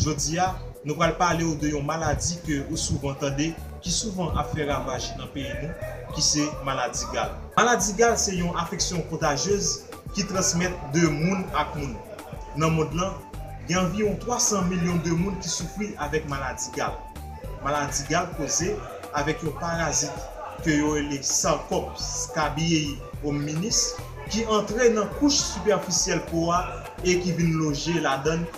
Jodi a, nou pral pale ou de yon maladi ke ou souvan tande, ki souvan ap fè ravaj nan peyi nou, ki se maladi gal. Maladi gal se yon afeksyon kontajyez ki transmèt de moun ak moun. Nan mond lan, gen anviwon 300 milyon de moun ki soufri avèk maladi gal. Maladi gal koze avèk yon parazit ke yo rele Sarcops scabiei hominis ki antre nan kouch sipèfisyèl po a e ki vin loje ladann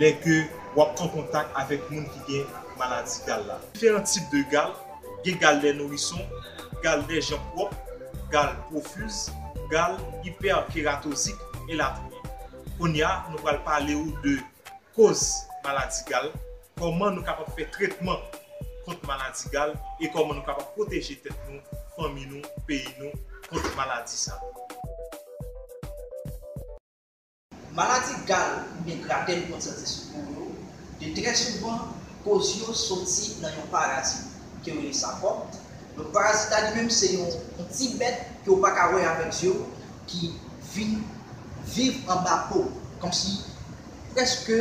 Lè ke wap an kontak avèk moun ki gen maladi gal la. Diferan tip de gal, gen gal dè nourison, gal dè jan pwòp, gal pwofuz, gal ipèkeratozik, elatriye. Kounya nou pral pale ou de koz maladi gal, kòman nou kapab fè tretman kont maladi gal e kòman nou kapab pwoteje tèt nou, fanmi nou, peyi nou kont maladi sa. Maladi gal oubyen gratè nou konn santi sou po yo, de trè souvan, koz yo soti nan yon parazit ke yo rele sarkòm. Donk parazit la li menm se yon yon ti bèt ke ou pa ka wè avèk zye ou ki vin viv anba po, kòmsi prèske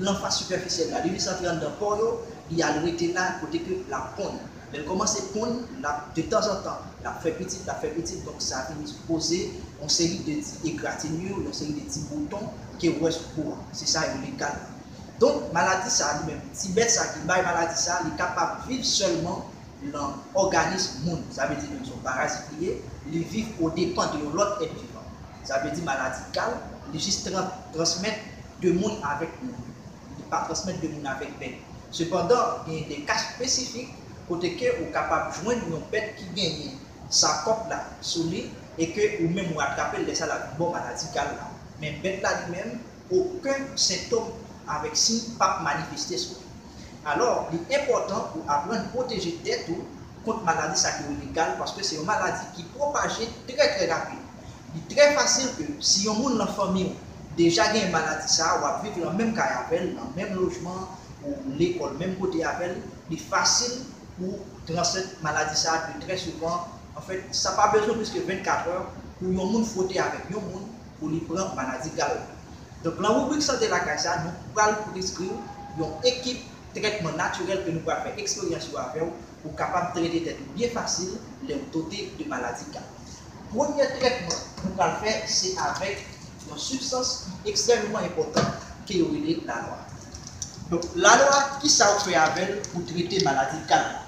lan fas sipèfisyèl la. Li desantre anndan po yo, li al rete la kote ke lap ponn. lèl kòmanse konn lap de tanzantan lap fè pitit lap fè pitit donk sa vin koze yon seri de ti egratinye yon seri de ti bouton kew wè sou po a se sa yo rele gad la donk maladi sa li menm ti bèt sa ki bay maladi sa li kapab viv sèlman lan òganis moun sa vle di menm son parazit li ye li viv o depan de yon lòt èt vivan sa vle di maladi gal li jis tran transmèt de moun avèk moun. Li pa transmèt de moun avèk bèt. Sepandan, genyen de ka espesifik kote ke ou kapab jwenn yon bèt ki genyen sa kòp la sou li e ke ou menm ou atrapel lè sa lap vin ba w maladi gal la. Men bèt la li menm oken sentom avèk siy pap manifeste sou li. Alò, li enpòtan ou aprann pwoteje tèt ou kont maladi sa ki rele gal paske se yon maladi ki pwopaje trè trè rapid. Li trè fasil ke si yon moun lan fanmi w deja genyen maladi sa a, w ap viv lan menm kay avè l, lan menm lojman an, ou lekòl menm kote avè l, li fasil pou w transmèt maladi sa a de trè souvan. Anfèt, sa pa bezwen plis ke 24 è pou yon moun fwote avèk yon moun pou li pran maladi gal la. Donk lan ribrik Sante Lakay sa a, nou pral preskri w yon ekip trètman natirèl ke nou pral fè eksperyans yo avè w pou w kapab trete tèt ou byen fasil lè w tote de maladi gal. Premye trètman nou pral fè se avèk yon sibstans ki ekstrèmeman enpòtan ke yo rele lalwa. Donk lalwa kisa ou fè avèl pou trete maladi gal la?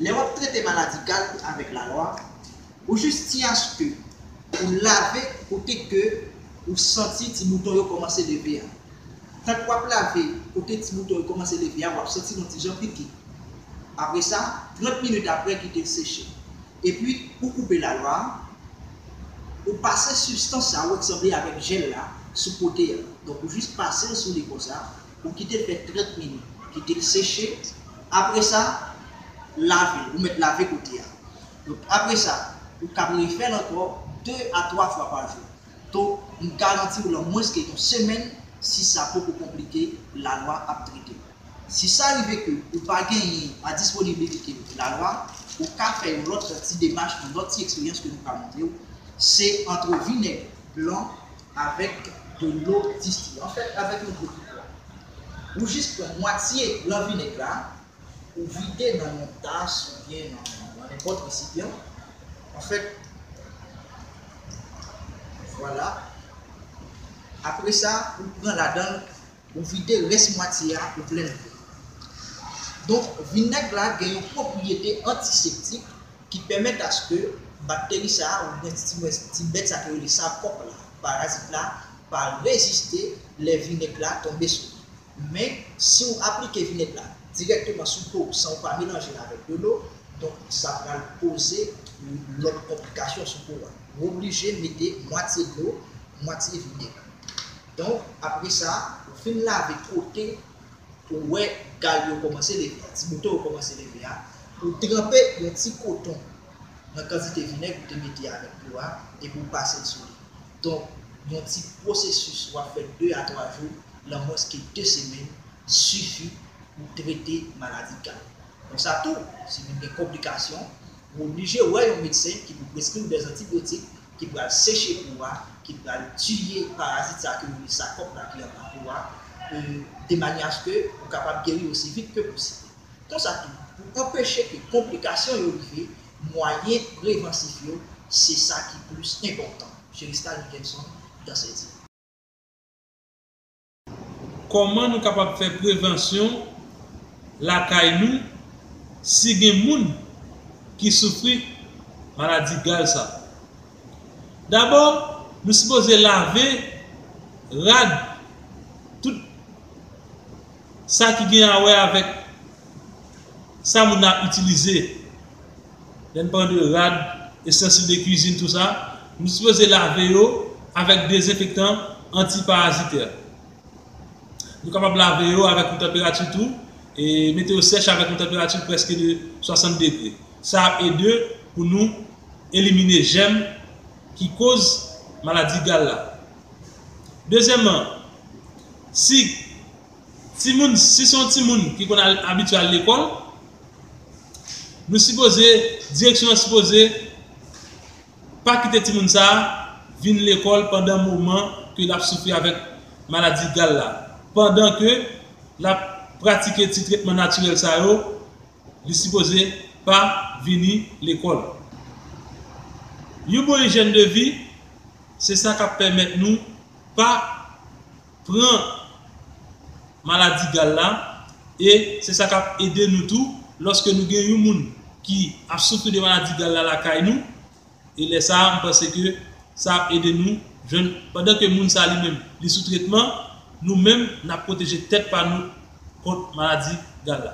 Lè wap trete maladi gal avèk lalwa, ou jis ti aske ou lave kote ke ou santi ti bouton yo kòmanse leve a. Tank wap lave kote ti bouton yo kòmanse leve a wap santi yon ti jan piki. Apresa 30 minit aprè kitel seche. Epi ou koupe lalwa a, ou pase sibstans sa wè k sanble avèk jèl la sou kote a. Donk ou jis pase l sou li konsa, ou kite l fè 30 minit, kite l seche, apre sa lave l, ou mèt lave kote a. Donk apre sa, ou kab refè l ankò 2 a 3 fwa pa jou. To, m garanti w lan mwens ke yon semèn, si sa poko konplike, la lwa ap trete w. Si sa rive ke ou pa genyen a disponibilite la lwa, ou ka fè yon lòt ti demach, yon lòt ti eksperyans ke nou ka montre w, se antre vinèg blan avèk de lo distille. An fèt, avèk yon dlo ki plat. Ou jis pran mwatye lan vinèg la, Ou vide nan yon tas oubyen nan nenpòt resipyan. Anfèt, vwala. Apre sa, ou pran ladan l, ou vide rès mwatye a, ou plen l dlo. Donk, vinèg la gen yon pwopriyete antiseptik ki pèmèt aske bakteri sa a oubyen ti bèt sa ki rele sarkòp la, parazit la, pa reziste lè vinèg la tonbe sou li. Men, si ou aplike vinèg la dirèkteman sou po w san ou pa melanje l avèk de lo, donk sa pral koze ou lòt konplikasyon sou po a. Ou oblije mete mwatye dlo, mwatye vinèg. Donk, apre sa, ou fin lave kote ou wè gal yo kòmanse leve a, ti bouton yo kòmanse leve a, ou tranpe yon ti koton nan kantite vinèg ou te mete avèk dlo a epi ou pase l sou li. Donk, yon ti pwosesis w ap fè 2 a 3 jou lan mwens ke 2 semenn sifi pou trete maladi gad. Konsa tou, si vin gen konplikasyon, ou oblije wè yon medsen ki pou preskri w dè zantibyotik ki pral seche po a, ki pral tiye parazit sa ke yo rele sakòp la ki anba po a, e de manyè aske ou kapab geri osi vit ke posib. Konsa tou, pou anpeche ke konplikasyon yo rive, mwayen prevansif yo se sa ki plis enpòtan, Cheristal Mickelson, dansè di. Kòman nou kapab fè prevansyon lakay nou si gen moun ki soufri maladi gal sa? Dabò, nou sipoze lave rad tout. Sa ki gen a wè avèk sa moun nan ap itilize, lè n pale de rad, estansil de kwizin tou sa, nou sipoze lave yo avèk dezenfektan antiparazitè. Nou kapab lave yo avèk yon tanperati tou, mete yo sèch avèk yon tanperati prèske de 60 degre. Sa ap ede pou nou elimine jèm ki koz maladi gal la. Dezyèmman, si timoun, si se yon timoun ki konn al abitye al lekòl, nou sipoze, direksyon an sipoze pa kite timoun sa a vin lekòl pandan moman ke l ap soufri avèk maladi gal la, pandan ke l ap pratike ti tretman natirèl sa yo, li sipoze pa vini lekòl. Yon bon ijyèn de vi. Se sa k ap pèmèt nou pa pran maladi gal la e se sa k ap ede nou tou lòske nou gen yon moun ki ap soufri de maladi gal la lakay nou e lè sa a m panse ke sa ap ede nou jwenn pandan ke moun sa li menm li sou tretman nou menm n ap pwoteje tèt pa nou kont maladi gal la.